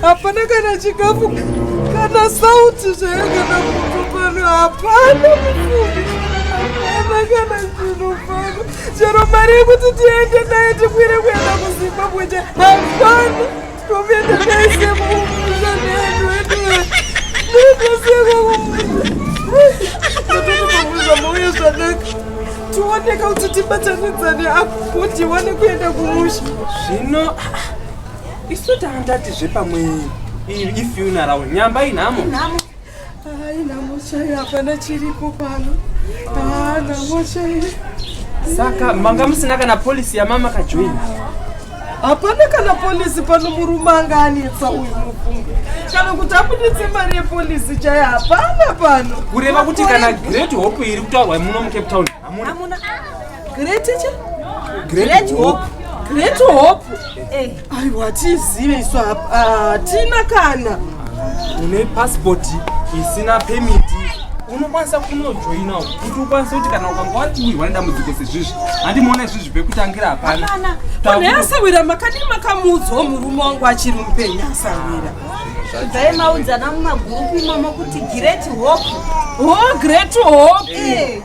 hapana kana chikafu kana sauti zvayo kana mutu pano hapana mufumi hapana kana zvinhu pano chero mari yekuti tiende naye tikwire kuenda kuzimbabwe cha hapana tokuenda taise mumusha nedu edu ndotosekwa kumusha mauya zvanaka tioneka kuti tibatanidzane apo tiwane kuenda kumusha zvino isu tandati zvepamwe ifuneral nyamba inhamo hayi nhamo chaiyo hapana chiripo pano haa nhamo chaiyo saka manga musina kana polisi yamama kajoin hapana kana polisi pano murume anga anetsa uyu mufunge kana kuti abuditse mari yepolisi chaiyo hapana pano kureva kuti kana great hope iri kutaurwa muno mucape town Hamuna. Great teacher? Great hope. Great hope. Eh. Aiwa tizive isu hapa. Ah, tina kana. Une passport isina permit. Unokwanisa kunojoina kuti ukwanise kuti kana ukanga watiwirwa nedambudziko sezvizvi handimuona izvizvi pekutangira hapana Hapana. Pane asawira makadini makamuudzwa murume wangu achiri mupenyu asawira. Dai maudzana mumagurupu imomo kuti great hope. Oh, great hope. Eh.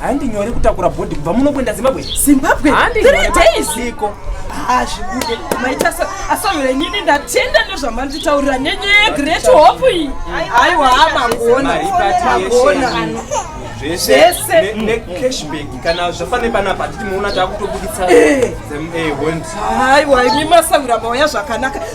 handi nyore kutakura bhodhi kubva muno kuenda zimbabwe zimbabwe three days iko hazvibude maita so asaure nyini ndatenda nezvamanditaurira nyenye yegreat hope iyi aiwa mangona mangona zvese necashback mm. kana zvafane panapa hatiti muona taakutobuditsa eh. eh, haiwa imi masawira mauya zvakanaka